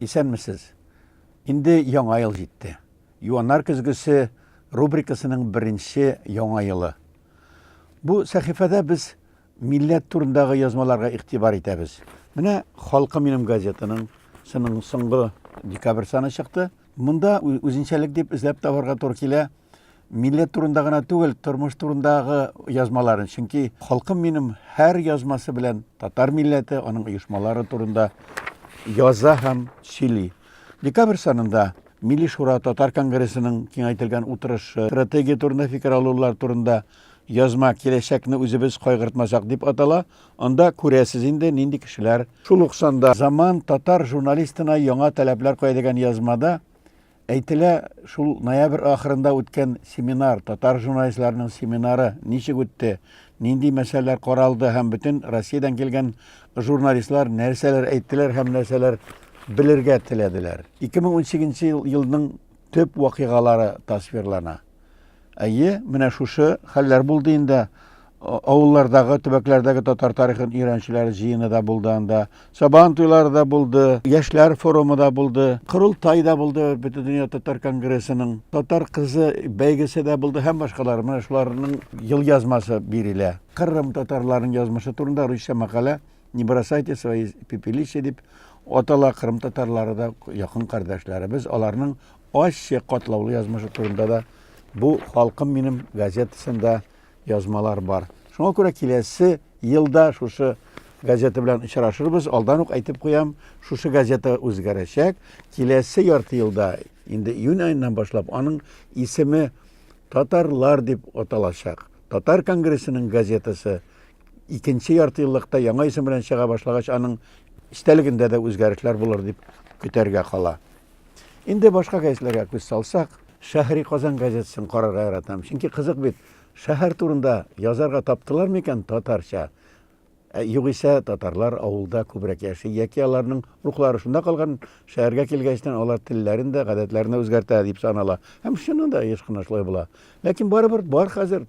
Исәнмесез! Инде Яңа ел җитте. Юаннар көзгесе рубрикасының беренче Яңа елы. Бу сәхифәдә без милләт турындагы язмаларга игътибар итәбез. Менә Халкы минем газетаның сының соңгы декабрь саны чыкты. Монда үзенчәлек дип эзләп табарга туры килә. Милләт турында гына түгел, тормыш турындагы язмаларын, чөнки халкым минем һәр язмасы белән татар милләте, аның оешмалары турында яза һәм сөйли. Декабрь санында Милли шура татар конгрессының киңәйтелгән утырышы, стратегия турында фикер алулар турында язма киләчәкне үзебез кайгыртмасак дип атала. Анда күрәсез инде нинди кешеләр. Шул ук санда Заман татар журналистына яңа таләпләр куя дигән язмада Әйтелә, шул ноябрь ахырында үткән семинар, татар журналистларының семинары ничек үтте, нинди мәсьәләләр каралды һәм бөтен Россиядән килгән журналистлар нәрсәләр әйттеләр һәм нәрсәләр белергә теләделәр. 2018 елның төп вакыйгалары тасвирлана. Әйе, менә шушы хәлләр булды инде. Авыллардагы, төбәкләрдәге татар тарихын өйрәнүчеләр җыены да булды анда. Сабан туйлары да булды, яшьләр форумы да булды, корылтай да булды, Бөтендөнья татар конгрессының татар кызы бәйгесе дә булды һәм башкалар. Менә шуларның ел язмасы бирелә. Кырым татарларының язмышы турында русча мәкалә Не бросайте свои пепелища дип атала. Кырым татарлары да якын кардәшләребез, аларның Ачы, катлаулы язмышы турында да бу Халкым минем газетасында язмалар бар. Шуңа күрә киләсе елда шушы газета белән очрашырбыз. Алдан ук әйтеп куям, шушы газета үзгәрәчәк. Киләсе ярты елда, инде июнь аеннан башлап, аның исеме Татарлар дип аталачак. Татар конгрессының газетасы икенче ярты еллыкта яңа исем белән чыга башлагач, аның истәлегендә дә үзгәрешләр булыр дип көтәргә кала. Инде башка гәзитләргә күз салсак, Шәһри Казан газетасын карарга яратам, чөнки кызык бит, шәһәр турында язарга таптылар микән татарча? Ә югыйсә татарлар авылда күбрәк яши, яки аларның рухлары шунда калган, шәһәргә килгәчтен алар телләрен дә, гадәтләрен дә үзгәртә дип санала. Һәм чыннан да еш кына шулай була. Ләкин барыбер бар хәзер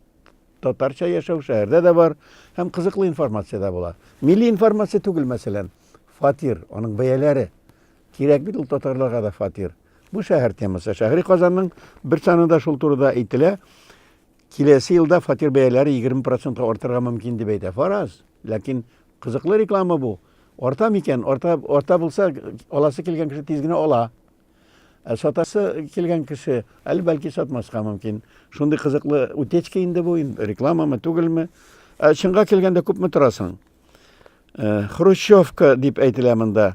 татарча яшәү шәһәрдә дә бар һәм кызыклы информация дә була. Милли информация түгел, мәсәлән, фатир, аның бәяләре. Кирәк бит ул татарларга да фатир. Бу шәһәр темасы. Шәһри Казанның бер санында шул турыда әйтелә. Киләсе елда фатир бәяләре 20 процентка артырга мөмкин дип әйтә. Фараз. Ләкин кызыклы реклама бу. Арта микән? Арта, арта булса, аласы килгән кеше тиз генә ала. Ә сатасы килгән кеше әле бәлки сатмаска мөмкин. Шундый кызыклы утечка инде бу, рекламамы, түгелме? Ә чынга килгәндә күпме торасың? Э, хрущевка дип әйтелә монда.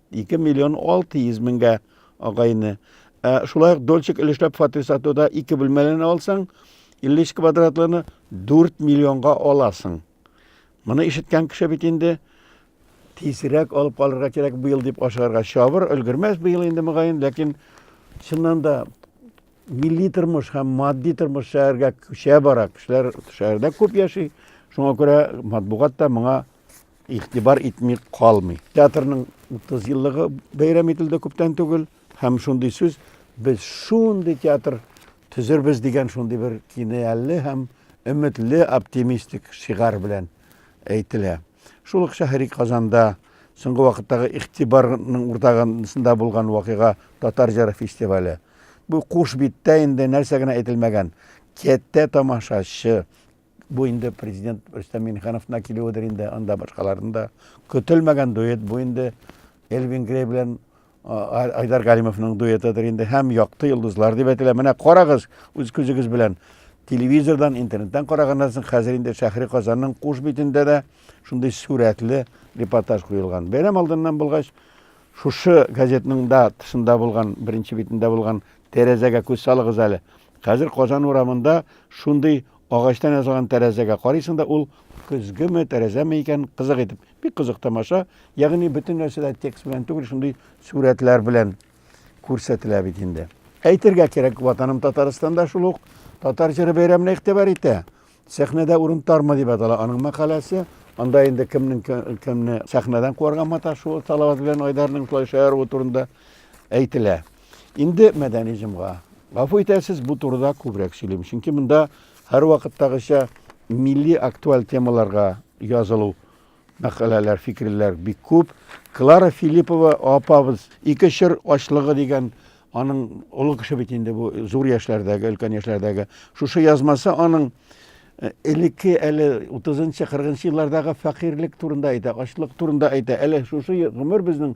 2 миллион 600 меңгә агайны. Ә шулай ук Дольчик өлешләп фатир сатуда 2 бүлмәләне алсаң, 53 квадратлыны 4 миллионга аласың. Моны ишеткән кеше бит инде тизрәк алып калырга кирәк быел дип ашыгарга чабыр, өлгермәс быел инде мөгаен, ләкин чыннан да милли тормыш һәм матди тормыш шәһәргә күчә бара. Кешеләр шәһәрдә күп яши. Шуңа күрә матбугат та моңа игътибар итми калмый. Театрның 30 еллыгы бәйрәм ителде күптән түгел һәм шундый сүз без шундый театр төзербез дигән шундый бер кинәялле һәм өметле оптимистик шигарь белән әйтелә. Шул ук шәһри Казанда соңгы вакыттагы игътибарның уртагында булган вакыйга Татар җыры фестивале. Бу куш биттә инде нәрсә генә әйтелмәгән. Кәттә тамашачы, Бу инде президент Рөстәм Миңнехановна килүедер инде, анда башкаларны да. Көтелмәгән дуэт бу инде Элвин Грей белән Айдар Галимовның дуэтыдыр инде һәм Якты йолдызлар дип әйтелә. Менә карагыз үз күзегез белән. Телевизордан, интернеттан караганнан соң хәзер инде Шәһри Казанның куш битендә дә шундый сурәтле репортаж куелган. Бәйрәм алдыннан булгач, шушы газетның да тышында булган, беренче битендә булган тәрәзәгә күз салыгыз әле. Хәзер Казан урамында шундый Агачтан ясалган тәрәзәгә карыйсың да, ул көзгеме, тәрәзәме икән, кызык итеп. Бик кызык тамаша. Ягъни бөтен нәрсә дә текст белән түгел, шундый сурәтләр белән күрсәтелә бит инде. Әйтергә кирәк, Ватаным Татарстанда шул ук татар җыры бәйрәменә игътибар итә. Сәхнәдә урын тармы дип атала аның мәкаләсе. Анда инде кемнең кемне сәхнәдән куарга маташуы Салават белән Айдарның шулай шаяру турында әйтелә. Инде мәдәни җомга. Гафу итәсез, бу турыда күбрәк сөйлим, чөнки монда һәрвакыттагыча милли актуаль темаларга язылу мәкаләләр, фикерләр бик күп. Клара Филиппова апабыз ике чор ачлыгы дигән аның олы кеше бит инде бу зур яшьләрдәге, өлкән яшьләрдәге. Шушы язмасы аның э, элекке әле 30-40 еллардагы фәкыйрьлек турында әйтә, ачлык турында әйтә. Әле шушы гомер безнең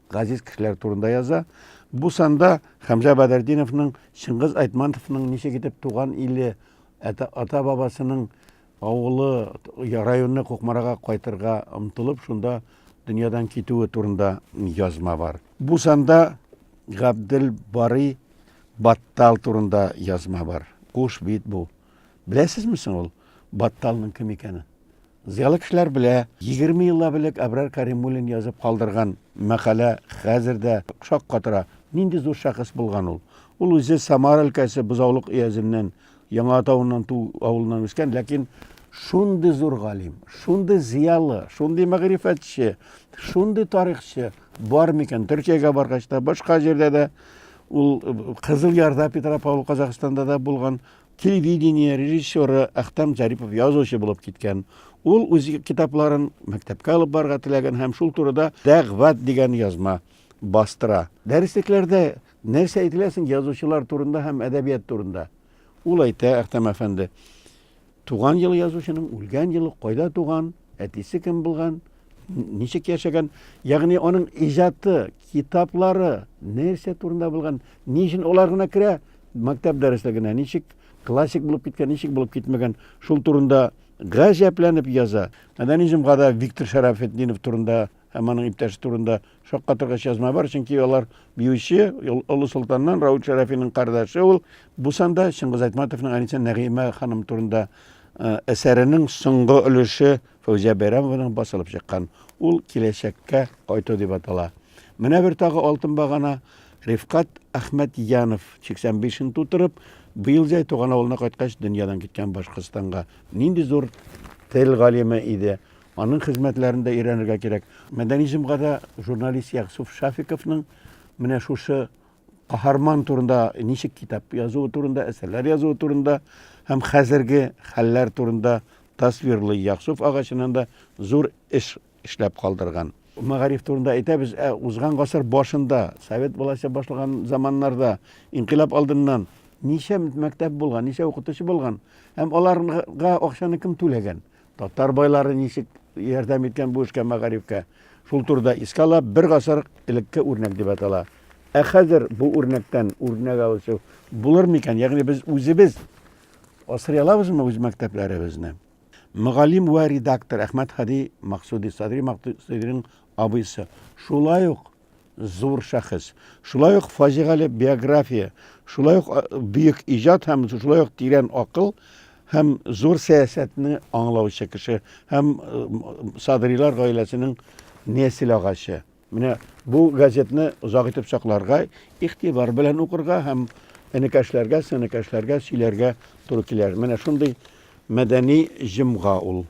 газиз кешеләр турында яза. Бу санда Хәмзә Бәдердиновның Чыңгыз Айтмантовның ничек итеп туган иле, ата-бабасының авылы, районы Кукмарага кайтырга омтылып, шунда дөньядан китүе турында язма бар. Бу санда Габдел Барый Баттал турында язма бар. Куш бит бу. Беләсезме соң ул Батталның кем икәнен? Зыялы кешеләр белә, егерме еллап элек Әбрар Кәримуллин язып калдырган мәкалә хәзер дә шаккатыра. Нинди зур шәхес булган ул! Ул үзе Самара өлкәсе Бозаулык өязеннән, Яңа Атавыннан Ту авылыннан үскән, ләкин шундый зур галим, шундый зыялы, шундый мәгърифәтче, шундый тарихчы бар микән? Төркиягә баргач та, башка җирдә дә ул Кызыл Ярда, Петропавл, Казахстанда да булган, Телевидение режиссеры Әхтәм Зарипов язучы булып киткән. Ул үз китапларын мәктәпкә алып барырга теләгән һәм шул турыда Дәгъват дигән язма бастыра. Дәреслекләрдә нәрсә әйтелә соң язучылар турында һәм әдәбият турында? Ул әйтә, Әхтәм әфәнде, туган елы язучының, үлгән елы, кайда туган, әтисе кем булган, ничек яшәгән, ягъни аның иҗаты, китаплары нәрсә турында булган, ни өчен алар гына керә, Мәктәп дәреслегенә ничек классик булып киткән, ничек булып китмәгән, шул турында гаҗәпләнеп яза. Мәдәни җомгада Виктор Шәрәфетдинов турында һәм аның иптәше турында шаккатыргач язма бар, чөнки алар биюче, Олы Солтаннан Рауль Шәрәфинең кардәше ул. Бу санда Чыңгыз Айтматовның әнисе Нәгыймә ханым турында э, әсәренең соңгы өлеше Фәүзия Бәйрәмованың басылып чыккан. Ул киләчәккә кайту дип атала. Менә бер тагы алтын багана Рифкат Әхмәтҗанов, 85 ен тутырып, быел җәй туган авылына кайткач, дөньядан киткән Башкортстанга. Нинди зур тел галиме иде. Аның хезмәтләрен дә өйрәнергә кирәк. Мәдәни җомгада журналист Ягъсуф Шафиковның менә шушы каһарман турында ничек китап язуы турында, әсәрләр язуы турында һәм хәзерге хәлләр турында тасвирлый. Ягъсуф ага чыннан да зур эш эшләп калдырган. Мәгариф турында әйтәбез, ә узган гасыр башында, совет власте башлаган заманнарда, инкыйлаб алдыннан ничә мәктәп булган, ничә укытучы булган? Һәм аларга акчаны кем түләгән? Татар байлары ничек ярдәм иткән бу эшкә, мәгарифкә? Шул турыда искә ала, бер гасыр элекке үрнәк дип атала. Ә хәзер бу үрнәктән үрнәк алучы булыр микән? Ягъни без үзебез асрый алабызмы үз мәктәпләребезне? Мөгаллим вә редактор Әхмәт Һади Максуди, Садри Максудиның абыйсы, шулай ук зур шәхес, шулай ук фаҗигале биография, шулай ук бөек иҗат һәм шулай ук тирән акыл һәм зур сәясәтне аңлаучы кеше һәм Садрилар гаиләсенең нәсел агачы. Менә бу газетны озак итеп сакларга, игътибар белән укырга һәм энекәшләргә, сенекәшләргә сөйләргә туры килер. Менә шундый мәдәни җомга ул.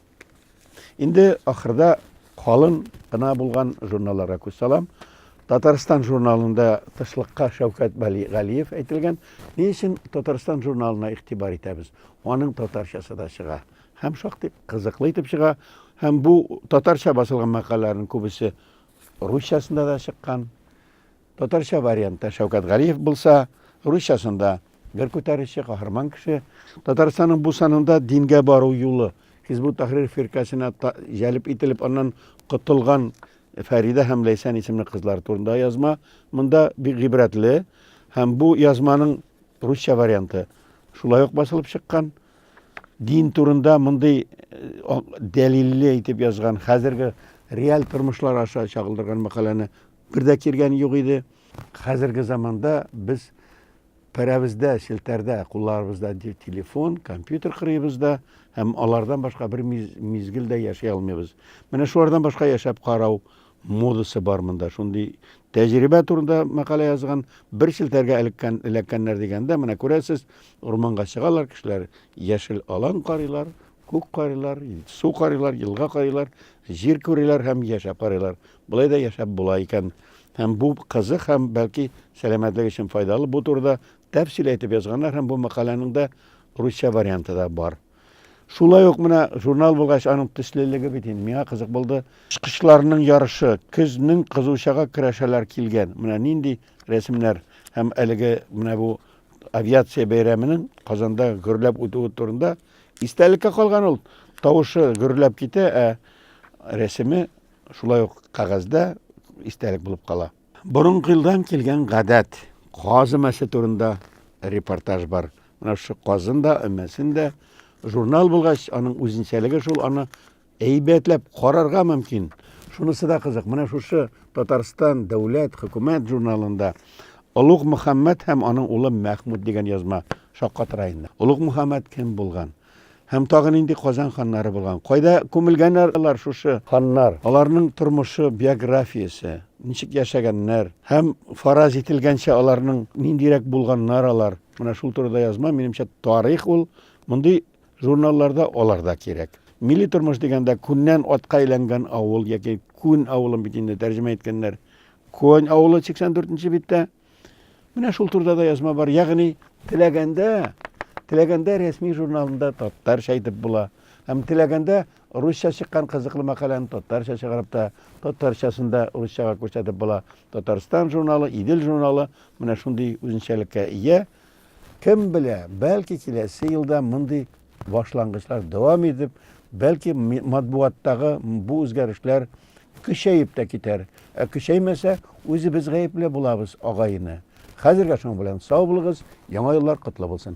Инде ахырда калын гына булган журналларга күз салам. Татарстан журналында тышлыкка Шәүкәт Галиев әйтелгән. Ни өчен Татарстан журналына игътибар итәбез? Аның татарчасы да чыга. Һәм шактый кызыклы итеп чыга. Һәм бу татарча басылган мәкаләләрнең күбесе русчасында да чыккан. Татарча вариантта Шәүкәт Галиев булса, русчасында бер күтәрүче, каһарман кеше. Татарстанның бу санында дингә бару юлы, Хизбу Тахрир фиркасенә җәлеп ителеп, аннан котылган Фәридә һәм Ләйсән исемле кызлар турында язма монда бик гыйбрәтле һәм бу язманың русча варианты шулай ук басылып чыккан. Дин турында мондый дәлилле итеп язган, хәзерге реаль тормышлар аша чагылдырган мәкаләне бер дә кергән юк иде. Хәзерге заманда без пәрәбездә, челтәрдә, кулларыбызда телефон, компьютер кырыйбызда һәм алардан башка бер мизгел дә яши алмыйбыз. Менә шулардан башка яшәп карау модасы бар монда. Шундый тәҗрибә турында мәкалә язган, бер челтәргә элеккән, эләккәннәр дигәндә, менә күрәсез, урманга чыгалар кешеләр, яшел алан карыйлар, күк карыйлар, су карыйлар, елга карыйлар, җир күриләр һәм яшәп карыйлар. Болай да яшәп була икән. Һәм бу кызык һәм бәлки сәламәтлек өчен файдалы. Бу турыда тәфсил әйтеп язганнар һәм бу мәкаләнең дә русча варианты да бар. Шулай ук менә журнал булгач, аның төслелеге бит инде миңа кызык булды. Чкычларның ярышы, көзнең кызучага көрәшәләр килгән. Менә нинди рәсемнәр һәм әлеге менә бу авиация бәйрәменең Казанда гөрләп үтүе турында истәлеккә калган ул. Тавышы гөрләп китә, ә рәсеме шулай ук кәгазьдә истәлек булып кала. Борынгы елдан килгән гадәт, каз өмәсе турында репортаж бар. Менә шушы казын да, өмәсен дә журнал булгач, аның үзенчәлеге шул, аны әйбәтләп карарга мөмкин. Шунысы да кызык, менә шушы Татарстан дәүләт хөкүмәт журналында Олуг Мөхәммәд һәм аның улы Мәхмүд дигән язма шаккатыра инде. Олуг Мөхәммәд кем булган? Һәм тагы нинди Казан ханнары булган? Кайда күмелгәннәр алар, шушы ханнар? Аларның тормышы, биографиясе, ничек яшәгәннәр һәм фараз ителгәнчә аларның ниндирәк булганнар алар? Менә шул турыда язма, минемчә, тарих ул. Мондый журналларда алар да кирәк. Милли тормыш дигәндә күннән атка әйләнгән авыл яки күн авылын бит инде тәрҗемә иткәннәр. Конь авылы 84 нче биттә. Менә шул турда да язма бар. Ягъни теләгәндә, теләгәндә рәсми журналында татарча әйтеп була. Һәм теләгәндә русча чыккан кызыклы мәкаләне татарча чыгарып та, татарчасын да русчага күрсәтеп була. Татарстан журналы, Идел журналы менә шундый үзенчәлеккә ия. Кем белә, бәлки киләсе елда мондый башлангычлар дәвам итеп, бәлки матбугаттагы бу үзгәрешләр көчәеп тә китәр. Ә көчәймәсә, үзебез гаепле булабыз, агай-эне. Хәзергә шуның белән сау булыгыз, яңа еллар котлы булсын!